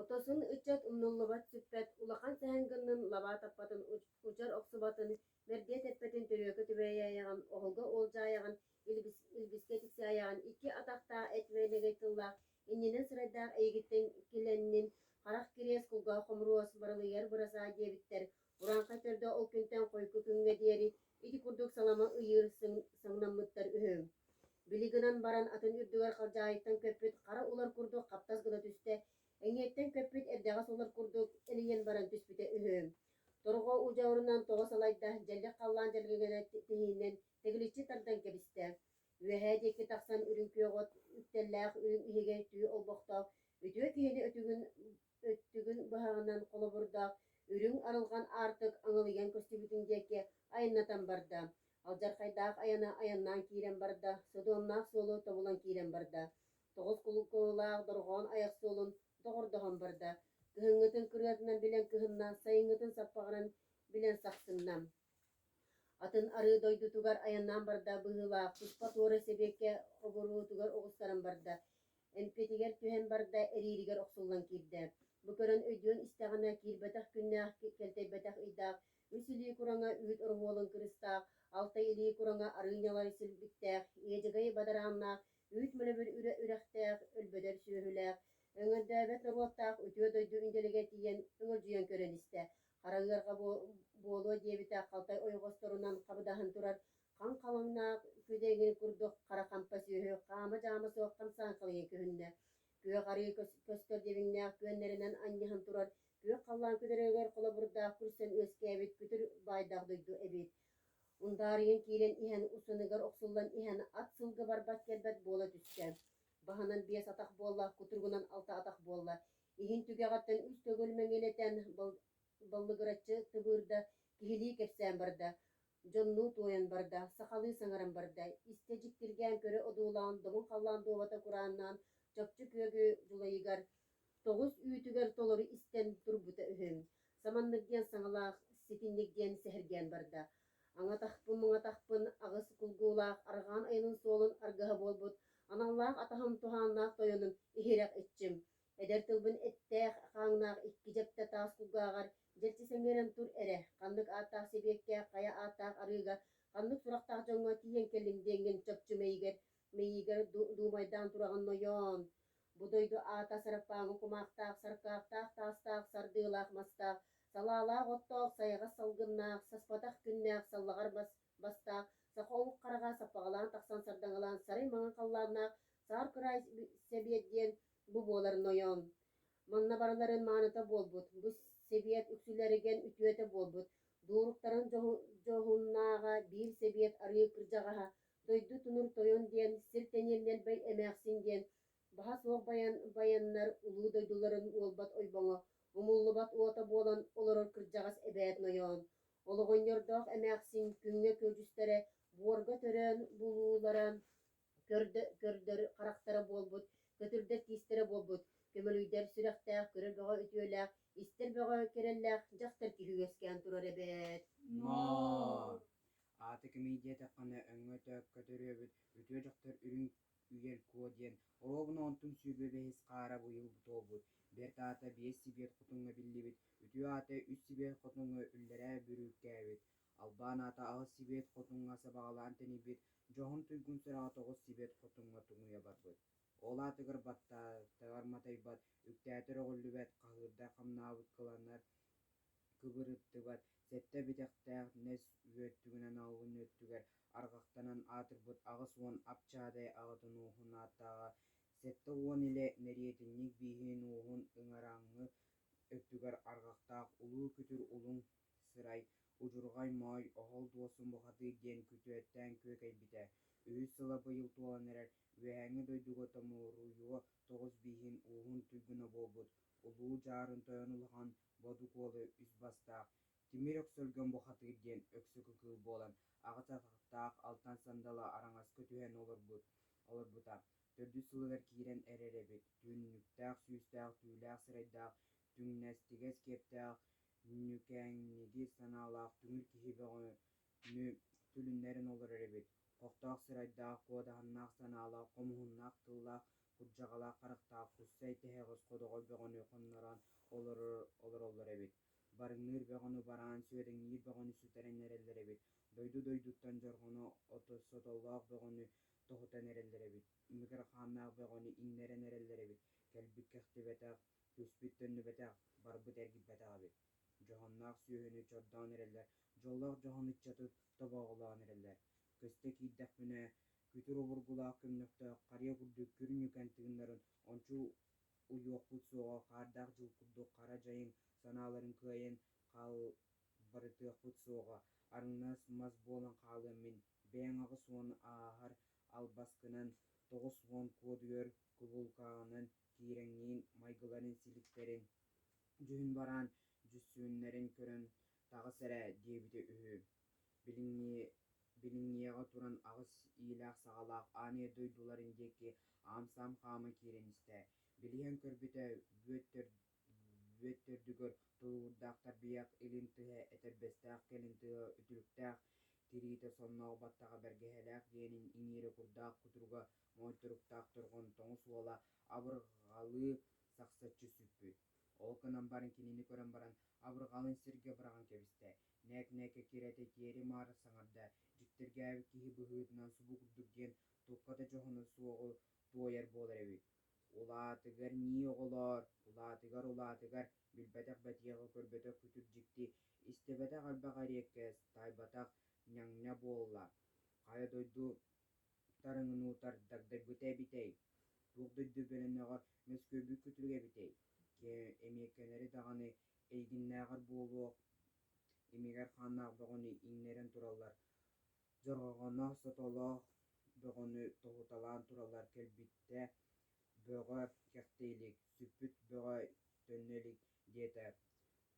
Отосон ыччат умнуллубат сүппэт улахан сэһэн гыннын лабаа таппатын удьар охсубатын мэргэт эппэтин төрүөкэ түбэйээйэҕин оһолго уолдьаайаҕын илбискэ тиксээйэҕин икки атахтаах эт вэнэгэй тыллаах иннинэн сырайдаах эйигиттэн килэннин харах кириэс кулгаах хомуруос барылыйар бырасаа диэбиттэр Бураанха төрдө ол күнтэн хойку күҥҥэ диэри ити курдук салама ыйыыр сыҥнаммыттар үһү. Били гынан баран атын үрдүгэр халдьаайыттан көппүт хара улар курдук хаптас гына түстэ, эҥиэттэн көппүт эрдэҕэс улар курдук элийэн баран түспүтэ үһү. Торҕо удьуорунан тоҕо салайда, дьэллик халлаан дьэлгэгэнэ тиһииннэн тэгиличчи тардан кэбистэ. Үөһээ диэки тахсан үрүҥ күөх от үктэллээх үрүҥ иһигэй түү олбохтоох үтүө киһини өтүгүн Өттүгүн быһаҕынан холобурдаах үрүҥ арылҕан аартык аҥылыйан көстүбүтүн диэки айаннатан барда. Алдьархайдаах айана айаннаан киирэн барда, содуомнаах суолу тобулан киирэн барда. Тоҕус кулуулаах дорҕоон айах суолун доҕордоһон барда. Кыһыҥҥытын кырыатынан билэн кыһынна, сайыҥҥытын саппаҕыран билэн сахсынна. Атын арыы дойдутугар айаннаан барда, быһыылаах, туспа туора сэбиэккэ оборуотугар оҕустаран барда. эмпиэтигэр түһэн барда, эрииригэр охсуллан киирдэ. Бу көрөн өйдүөн истэҕинэ, киирбэтэх күннээх, кэлтэйбэтэх ыйдаах, үс илии кураҥа үүт ороһуолун кырыыстаах, алтай илии кураҥа арыынньалары силбиктээх, иэдьэгэйи бадарааннаах, үүт мөлөбүр үрэ үрэхтээх, өлбөтөр сүөһүлээх, өҥөрдөөбөт норуоттаах үтүө дойду индэлигэ тиийэн өҥөлдьүйэн көрөн истэ, хара ыарҕа буолуо диэбитэ, халтай ойоҕосторунан хабыдаһан турар Хам халыҥнаах күдэҥи курдук хара хампа сүөһү хаама-дьаама суох хамсааҥкалыйан көһүннэ. Күөх арыы көстөр диэбиҥнээх күөннэринэн анньыһан турар күөх халлаан күдэрэгэр холобурдаах күрсэн үөскээбит күтүр баайдаах дойду эбит. Ундаарыйан киирэн иһэн усаныгар охсуллан иһэн ат сылга барбат-кэлбэт буола түстэ. Баһынан биэс атах буолла, кутуругунан алта атах буолла. Иһин түгэҕиттэн үс төгүл мэҥилэтэн баллыгыраччы тыбыырда, киһилии кэпсээн барда. Дьоннуу туойан барда, сахалыы саҥаран барда, истэ дьиктиргээн көрө одуулаан доҥун халлаан дуобата курааннаан чопчу күөгү дьулайыгар, тоҕус үүтүгэр толору истэн турбута үһү. Саманнык диэн саҥалаах, ситинник диэн сэһэргээн барда. Аҥатахпын-муҥатахпын аҕыс кулгуулаах арҕаан айанын суолун аргыһа буолбут аналлаах атаһым туһааннаах тойонум иһирэх иччим, Эдэр тылбын эттээх, хааҥнаах икки дьэптэ таас кулгааҕар дьэччи сэҥээрэн тур эрэ, ханнык ааттаах сибиэккэ, хайа ааттаах арыыга, ханнык сурахтаах дьоҥҥо тиийэн кэллиҥ диэҥҥин чопчу мэйигэр, мэйиигэр ду-дуумайдаан тураҕын нойоон. Бу дойду аата сарыппааҥҥа кумаахтаах, саркаахтаах, таастаах, сардыылаах-мастаах, салаалаах-оттоох, сайаҕас салгыннаах, саспатах күннээх, саллаҕар бас бастаах, саха омук хараҕа саппаҕалаан тахсан сардаҥалаан сарый маҥан халлааннаах саар кыраай сэбиэт диэн Бу буолар нойоон. Манна барыларын мааныта буолбут, бу Сэбиэт үксүлэригэн үтүөтэ буолбут, дууруктарын дьоһуннааҕа биир Сэбиэт арыы кырдьаҕаһа дойду тунур тойон диэн сир тэниэннэлбэй эмээхсин диэн баһа суох байаннар улуу дойдуларын уолбат ойбоҥо, умуллубат уота буолан олорор кырдьаҕас эбээт нойоон. Олоҕонньордоох эмээхсин күҥҥэ күөдьүстэрэ буорга төрөөн булуулара көрдөр харахтара буолбут, көтүрдэр тиистэрэ буолбут, көмөлүйдэр сүрэхтээх, көрөр бөҕө үтүөлээх, истэр бөҕө кэрэллээх дьахтар киһи үөскээн турар эбээт. Ноо! Аата кимий диэтэххинэ, өҥҥө-өтөк көтөрүөбүт, үтүө дьахтар үрүҥ үйэл куо диэн, оруобуна онтун сүүрбэ бэһис хаара быйыл буолбут, бэрт аата биэс сибиэт хотуҥҥа биллибит, үтүө аата үс сибиэт хотуҥҥа үллэрээ бүрүүккээбит, Албаан аата аҕыс сибиэт хотуҥҥа сабаҕалаан тэнийбит, дьоһун туйгун сүрэҕэ тоҕус сибиэт хотуҥҥа туҥуйа барбыт. Ол аатыгар баттатыгар матайбат, үктээтэ өрөҕүллүбэт, хаһыырдай хамнаабыт кыланар кыбырыттыбат, сэттэ бэтэхтээх нэс үөт түгэнэн аҕабын өттүгэр арҕахтанан аатырбыт аҕыс уон апчаадай аҕатын ууһун ааттааҕа, сэттэ уон илэ мэриэтинньик бииһин ууһун ыҥараҥҥы өттүгэр арҕахтаах улуу күтүр улуҥ Сырай, удьурҕай моой, оһол дуосун бухатыыр диэн күтүөттээн күөкэйбитэ, үһүс сыла быйыл туолан эрэр үөһээҥҥи дойдуга томуоруйуо тоҕус бииһин ууһун туйгуна буолбут Улуу Дьаарын тойон улахан Бодукуолу үс бастаах Тимир Өксөлгөн бухатыыр диэн өксөкү кыыл буолан аҕыс атахтаах алтан сандала араҥаска түһэн олорбута. Төрдүс сылыгар киирэн эрэр эбит, түннүктээх, сүүстээх, түүлээх сырайдаах түҥнэстигэс киэптээх ньүкээҥниги санаалаах түҥүр киһи бөҕөнү түлүннэрэн олорор эбит хохтоох сырайдаах куодаһыннаах санаалаах хомуһуннаах тыллаах курдьаҕалаах харахтаах куссай тэһэҕэс ходоҕой бөҕөнү хоннорон олороллор эбит барыҥныыр бөҕөнү бараан сүөдэҥниир бөҕөнү сүтэрэн эрэллэр эбит дойду дойдуттан дьорҕону сотоллоох бөҕөнү тоһутан эрэллэр эбит микрохааннаах бөҕөнү иҥнэрэн эрэллэр эбит, кэлбит-кэхтибэтэх, түспүт-төннүбэтэх, барбыт-эргиппэтэх эбит. Дьоһуннаах сүөһүнү чордоон эрэллэр, дьоллоох дьоһун ыччаты тобооҕолоон эрэллэр. Көстө киирдэхпинэ, күтүр обургулаах көмнөхтөөх харыйа курдук күр ньүкэн тыыннарын ончу уйуохпут суоҕа хаардаах дьыл курдук хара дьайыҥ санааларын кыайан хаалбарытыахпыт суоҕа, арыҥнас мас буолан хаалыам мин Бэйэҥ аҕыс уон ааһар албаскынан, тоҕус уон куодуйар кубулкаҕынан киирэҥниин майгыларын силиктэрин, дьүһүн бараан дьүссүөннэрин көрөн таҕыс эрэ диэбитэ үһү. Билиҥҥиэҕэ туран аҕыс иилээх-саҕалаах аанай дойдуларын диэки аам-саам хаама киирэн истэ. Билиһэн көрбүтэ, Бүөт төрдүгэр тулуурдаах тарбыйах илин тыһа этэрбэстээх кэлин тыһа үтүлүктээх тириитэ сонноох баттаҕа бэргэһэлээх дьиэнин иҥиирэ курдаах кутуруга моончуруктаах торҕон тоҥус уола абырҕалыы сахсаччы сүппүт. Ол гынан баран кинини көрөн баран абырҕалын сиргэ быраҕан кэбистэ. Нэк-нэкэ кирэтэ тиэри-маар саҥарда. Дьиктиргээбит киһи быһыытынан субу курдук диэн турката дьоһуна суоҕу туойар буолар эбит. Улаатыгар нии оҕолоор, улаатыгар-улаатыгар билбэтэх бэтиэхэ көрбөтөх күтүр дьикти, истибэтэх элбэх эриэккэс, таайбатах ньаҥна буолла. Хайа дойду тарыҥынуутар дагдайбыта эбитэй? Туох дойду бөлөнөҕө мөскүөбүт күтүрүгэ эбитэй? Эмиэккэнэри даҕаны эйигиннээҕэр буолуох, имигэр хааннаах бөҕөнү иҥнэрэн тураллар. Дьороҕоно сотолоох бөҕөнү тоһуталаан тураллар кэлбиттэ «Бөҕө кэхтэ илик, сүппүт бөҕө төннө илик» диэтэ.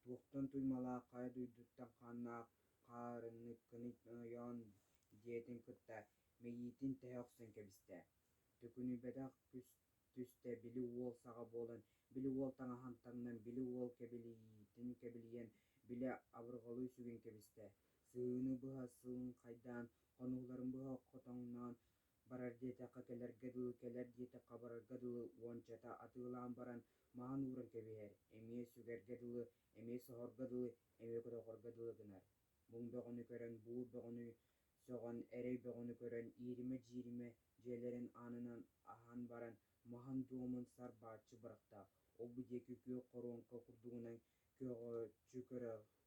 «Туохтан туймалаах хайа дойдуттан хааннаах хаарыҥныккыный ойоон» диэтин кытта мэйиитин тэһэ охсон кэбистэ. Төкүнүйбэтэх күс түстэ били уол саҕа буолан, били уол таҥаһын таҥнан, били уол кэбилиитин кэбилийэн, били абырҕалыы сүгэн кэбистэ. Сыыны быһа сылыҥхайдаан, хонууларын быһа хотоҥноон барар диэтэххэ кэлэргэ дылы кэлэр диэтэххэ барарга дылы уончата атыылаан баран маһын ууран кэбиһэр, эмиэ сүгэргэ дылы, эмиэ соһорго дылы, эмиэ көтөҕорго дылы гынар. Муҥ бөҕөнү көрөн буур бөҕөнү сөҕөн, эрэй бөҕөнү көрөн ииримэ-дьииримэ дьиэлэрин аанынан аһан баран маһын-дуомун сар бааччы бырахта, ол-бу диэки күөх хоруоҥка курдугунан көҕүччү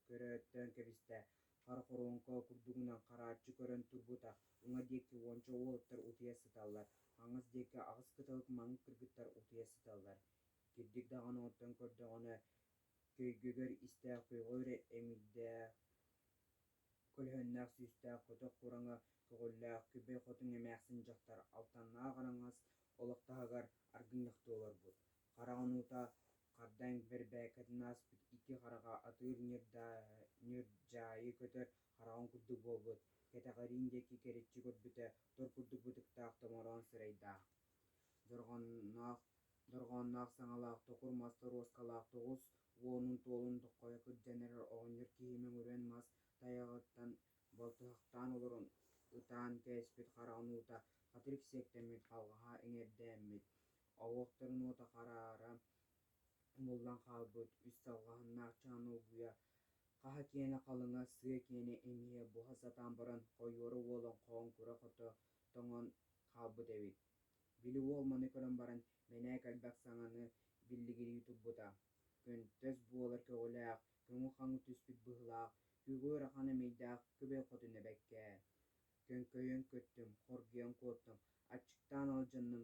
көрөөттөөн кэбистэ. Хара хоруоҥка курдугунан харааччы көрөн турбута, уҥа диэки уонча уолаттар утуйа сыталлар, хаҥас диэки аҕыс кыталык маҥҥык кыргыттар утуйа сыталлар. Кирдик даҕаны оттон көрдөҕүнэ, көйгөгөр истээх көйгөр эмиийдээх көлөһүннээх сүүстээх көтөх кураҥа көҕүллээх күбэй хотун эмээхсин дьахтар алтаннаах араҥас олох таһыгар аргынньахтыы олорбут. хараҕынуута хардааҥ бэрбээкэтин ааспыт икки хараҕа атыыр ньырдьаайы көтөр хараҕын курдук буолбут кэтэҕэриин диэки кэриччи көрбүтэ тор курдук бытыктаах томороон сырайдаах дорҕоонноох саҥалаах токур мас торуоскалаах тоҕус уонун туолун доххойо кырдьан эрэр оҕонньор киһи мөҥүрүөн мас тайаҕыттан балтыһахтаан олорон ытаан кээспит хараҕынуута хатырик сиэктэммит халҕаһа иҥэрдээммит оһуохтарын уота хараара умуллан хаалбыт үс салҕаһыннаах чааны угуйа хаһа киэнэ халыҥа сыа киэнэ эмиэ буһа сатаан баран хойуора уолун хоон кура-хото тоҥон хаалбыт эбит били уол маны көрөн баран мэнээк элбэх саҥаны биллигирии турбута көнтөс буолар көҕүлээх көҥү хаҥы түспүт быһылаах күөгү ыарахан эмэйдээх кыбыл хотун эбэккээ көҥкөйөн көттүм хоргуйан куоттум аччыктаан алдьанным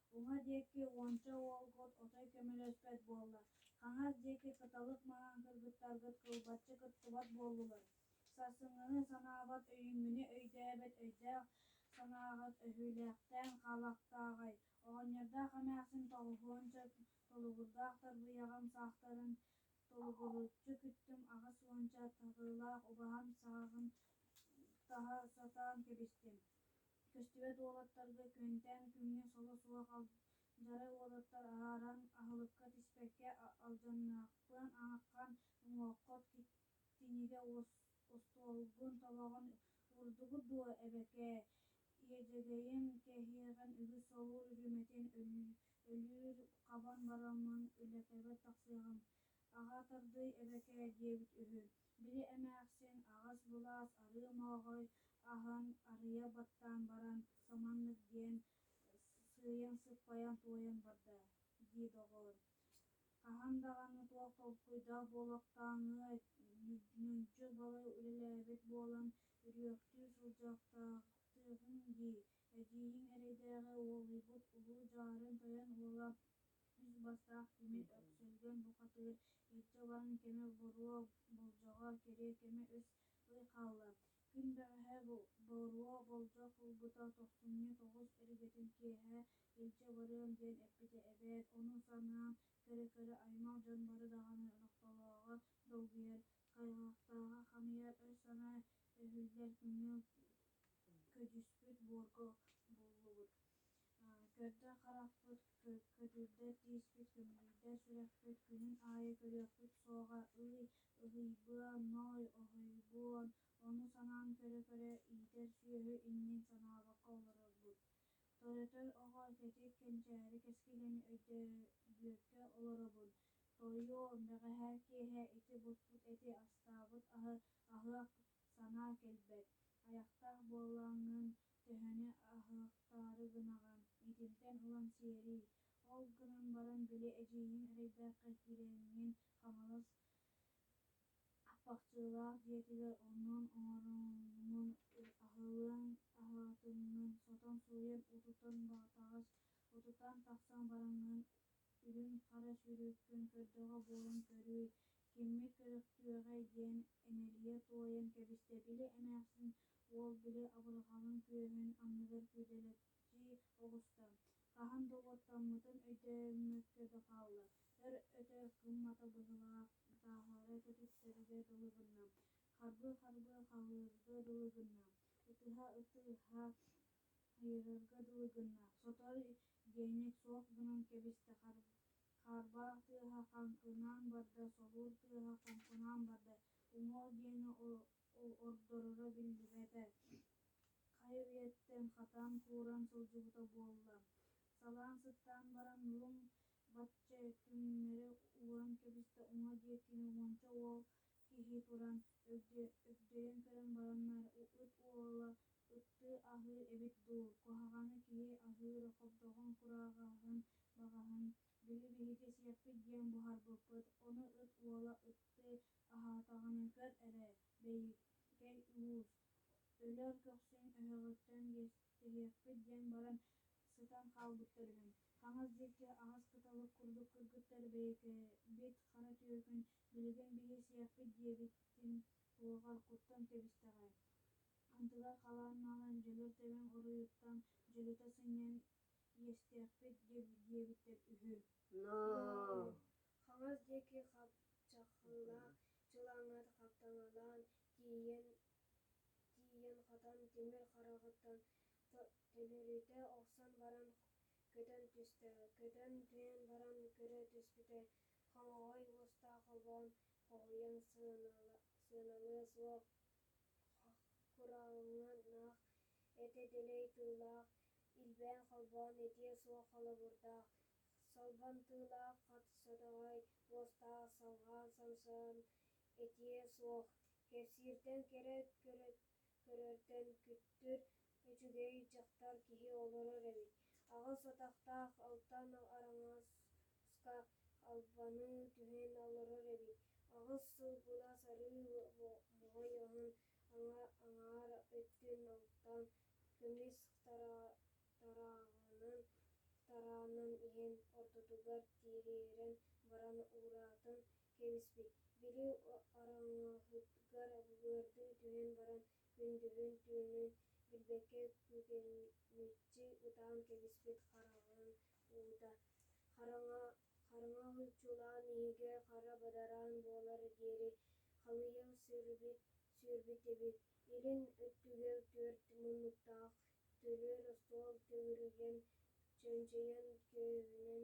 Уҥа диэки уонча уолгут отой көмөлөспөт буолла. Хаҥас диэки кыталык маҥан кыргыттаргыт кылбаччы кыттыбат буоллулар. Сарсыҥҥыны санаабат өйүммүнү өйдөөбөт өйдөөх санааҕыт өһүүлээхтээн хаалыахтааҕай. Оҕонньордоох эмээхсин тоҕуһуонча толугурдаах тарбыйаҕым саахтарын толугуруччу күттүм аҕыс уонча таһыылаах убаһам сааҕын таһа сатаан кэбистим. Көстүбэт уолаттарга Күөнтээн күҥҥэ соло суох алдьарай уолаттар аһаран аһылыкка тиспэккэ алдьаннаахпын ааххан, уҥуоххут кинигэ остуолгун тобоҕун уурдугут дуо эбэкээ, иэдьэгэйим кэһиэҕин үгүс солуур үрүмэтин өлүүр хабан бараммын, Үлэпэбэ тахсыаҕым Аҕа тардыы эбэкээ диэбит үһү. Били эмээхсин аҕас былаас арыы мооҕой аһан, арыйа баттаан баран, саманнык диэн сыыйан-сыппайан туойан барда дии доҕоор. Хаһан даҕаны туох толкуйдаах буолуохтааҕыай, ньүдьү балай үлэлээбит буолан, үрүөхтүү сылдьыахтаахтыыгын дии, Эдьиийиҥ эрэйдээҕи уолуйбут улуу дьаарын тойон уола үс бастаах тимир өксөлгөн букатыыр иччэ улахан кэмэ боруо болдьоҕо кэриэ кэмэ үс ый хаалла күн бэҕэһээ боруо болдьох ылбыта тохтумньу тоҕус эргэтин киэһэ илдьэ барыам диэн эппитэ эбээт ону санаан көрө-көрө аймах дьон бары даҕаны нохтолооҕо долгуйар хайҕахтааҕа хамыйар өй санаа өһүллэр көҥүл көдьүүспүт буорга буллубут көрдө харахпыт көтүрдэ тииспит көмүлүйдэ сүрэхпит күнүн аайы көрүөхпүт суоҕа ылый ылыйбыа ной оһойбуон ону санаан көрө көрө иитэр сүөһү иннин санаабакка олорорбут тойотой оҕо тэтик кэнчээри кэскилэни өйдөөбүөккэ олоробун тойуо бэҕэһээ киэһэ ити буспут эти астаабыт аһы аһыах санаа кэлбэт, айахтаах буоллаҥҥын төһөнү аһыахтаары гынаҕын, итинтэн ылан сиэрий, ол гынан баран били эдьиийиҥ эрэйдээххэ киирэҥҥин Хаҥалас Аппахчылаах дьиэтигэр онон оҥоруммун аһылыан аһаатыммын сотон сууйан утутан баҕатаҕас утутан тахсан бараҥҥын Үрүҥ-хара сүүрүккүн көрдөҕө буолан көрүүй, киммит көрүөхтүөҕэй диэн энэлийэ туойан кэбистэ, били эмээхсин уол били абырҕаҕын күөһүн анныгар күөдэлэччи оҕуста. Хаһан да уоттаммытын өйдөөммөккө да хаалла. Өр өтө кыммата быһыылаах тааһыара көтүттэргэ дылы гынна, харбыы-харбыы хаһыырга дылы гынна, ытыһа-ытыһа айыырга дылы гынна сотору генник суох гынан кэбистэ хаарбах тыаһа хаҥкынаан барда собур тыаһа хоҥкунаан барда уҥуох диэни ордороро биллибэтэ хайа үйэттэн хатан кууран сылдьыбыта буолла салаан сыттаан баран луҥ бачча түҥнэри ууран кэбистэ уҥа диэккини уонча уол киһи туран өгдьөйөн көрөн бараннар ыт уола ыттыы аһыыр эбит дуу куһаҕаны киһи аһыыр хобдоҕун кураҕаһын баҕаһын били биһиги сиэппит диэн буһарбыппыт ону ыт уола ыттыы аһаатаҕын көр эрэ бэйикэй уус өлөөр көхсүн өһөҕүттэн иэстэһиэхпит диэн баран сытан хаалбыттар үһү хаҥас диэки аһыс кыталык курдук кыргыттар бэйэкэбит хара түөкүн Билигин биһиэсийэхпит диэбитин уоҕаркуттан кэбистэҕэ, антыгар халаан маалан дьөлөр тэбэн уруйуттан дьөлүтэ сынньан иэстээхпит диэбиттэр үһү Хаҥас диэки хапчахылаах чылааҥҥа хаптаҥалаан тиийэн хатан тимир хараҕыттан төлөрүтэ охсон баран көтөн түстэ көтөн түһэн баран көрө түспүтэ Хомоҕой уустаах обоон хоһуйан сыаналыа суох курааннаах этэ дэлэй тыллаах илбээн холбоон этиэ суох холобурдаах солбумтуулаах содоҕой уостаах салҕаан сомсоон этиэ суох кэпсииртэн кэрэ көрөртөн күттүр Үчүгэй дьахтар киһи олорор эбит. Аҕыс атахтаах алтан араҥаска албаны түһэн олорор эбит. Аҕыс сыл булас арыы моһойоһун аҥаар өттүн алтан көмүс тараанын иһэн ортотугар тириэрэн баран уураатын кэбиспит. Били араҥаһытгар былыргы түһэн баран күндүлүн түүнүн билбэккэ күөкэмиччи ытаан кэбиспит хараҕын уута хараҥа чулаан иһигэр хара бадараан буолар диэри халыйан сүүрбүт эбит илин өттүгэр түөрт муннуктаах төлөр остуол төгүрүгүн чөмчөйөн көөһүнэн